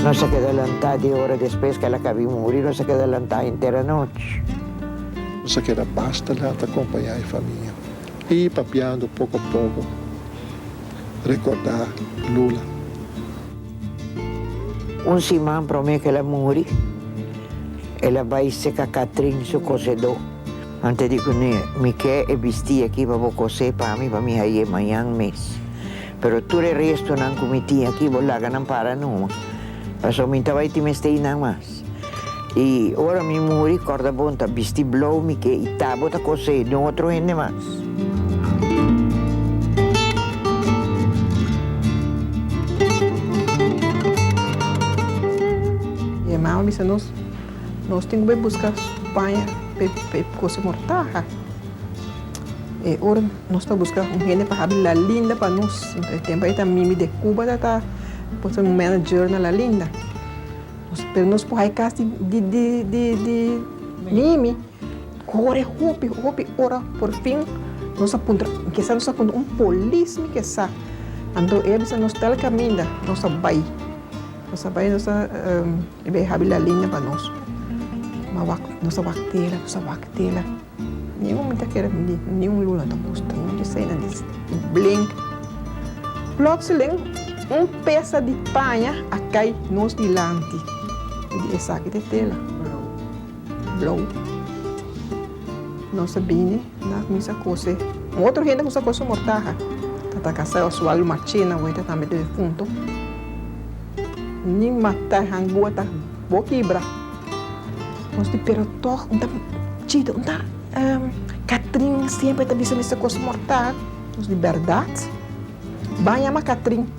Nos a keda lantá dies ora despues ku el a kabí muri, nos a keda lantá henter anochi. Nos a keda basta lat a kompañá e famia i papiando poko a poko rekordá Lula. Un siman promé ku el a muri, el a bai seka Katrin su kosedó. Ante di cu ne mi ke e bisti aki pa bo cosé pa mi pa mi hayé mañan mes. Pero tur e restonan cu mi tin aki bo laga nan para numa, pasobra mi ta bay tin mes tey nan mas. Y ora mi muri, corda bo n'ta bisti blou mi ke y ta bo ta cosé den otro hende mas. Ye mao, bisa nos. Nos tin ku bai buska Spaña pa e kosa mortaha. E ora nos ta buska un hende pa habri La Linda pa nos. E tempu ei ta Mimi de Cuba ta ta un manager na La Linda. Pero nos por hai kas di Mimi kore hopi, hopi ora. Porfin nos a puntra, kisa nos a puntra un polis mi ke sa. Anto e a bisa nos tel kaminda, nos a bai. Nos a bai nos a. E bay habi la linea pa nos. Ma wak, nos a wak tela, nos a wak tela. Ni un mi ta kere bini, ni un luna ta mustra, un disena di blink. Plotseling un pesa di paña a kai nos dilanti. Di esaki ta e tela. Blou. Nos a bini, nan a kuminsá a kose. Un otro hende a kuminsá a kose su mortaha. Tata Kasai o su Alma China wei ta tambe ta difuntu. Nin matá e hangúa ta bo kibra. Nos di pero tòg un ta chita, un ta Katrin siempre ta bisa mester kose mortaha. Nos di bèrdat. Ban yama Katrin.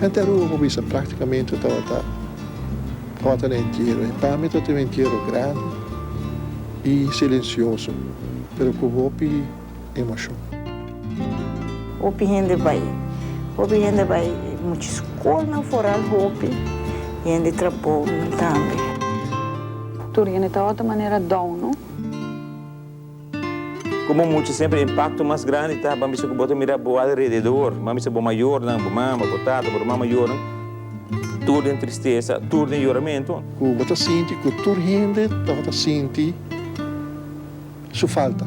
Henter Aruba por bisa práktikamente tabata kòrta na entiero. I pa mi tabata un entiero grandi i silensioso, pero ku hopi emoshon. Hopi hende bai. Hopi hende bai mucha skolnan foral. Hopi hende tra bounan tambe. Tur hende tabata manera dòu, no? Komo mucha semper impakto mas grandi ta ban bisa ku bo ta mira bo alrededor, ban bisa bo mayornan, bo mama, bo tata, bo ruman mayornan, tur den tristesa, tur den yoramentu. Ku bo ta sinti ku tur hende tabata sinti su falta.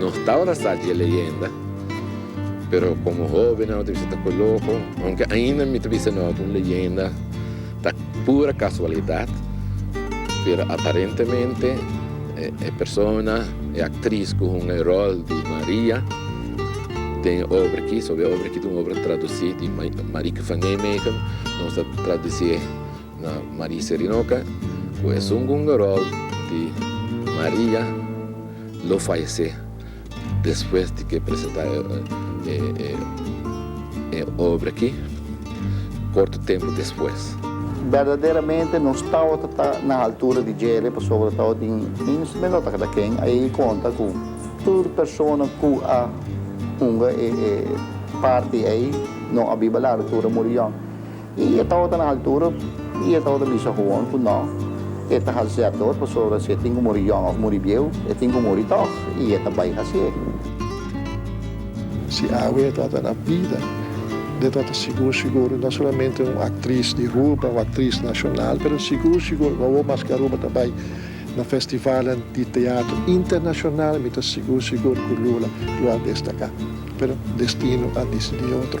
Nos tabatin a sa dje leyenda, pero komo hobe nan ta bisa ta ko loko, ounke ainda mi ta bisa no ku un leyenda ta pura kasualidat, pero aparentemente e persona, e aktris ku hunga e ròl di Maria den e obra aki, soba e obra aki ta un obra tradusí di Marieke van Nijmegen, nos a tradusié. Na Marie Serinoka cu esun gungarol di Maria lo fayece despues di ke presenta e obra aki corto tempo despues. Berdaderamente nos tawata ta na altura di Jerry pasobra tawata tin un men no ta keda ken a yei conta cu tur persona cu a hunga e parti ei no a biba laro tur a muri yong. I e tabata na altura i e tabata bisa hoon ku no, e ta hasi e ador, pasobra si e tin ku muri yòn òf muri bieu, e tin ku muri tòg, i e ta bai hasié. Si awe e tabata na bida, e tabata sigur sigur no solamente un aktris di Aruba o aktris nashonal, pero sigur sigur wawou maske Aruba ta bai na festivalnan di teatro internashonal, mi ta sigur sigur ku Lula lo a destaká. Pero destino a disidí otro.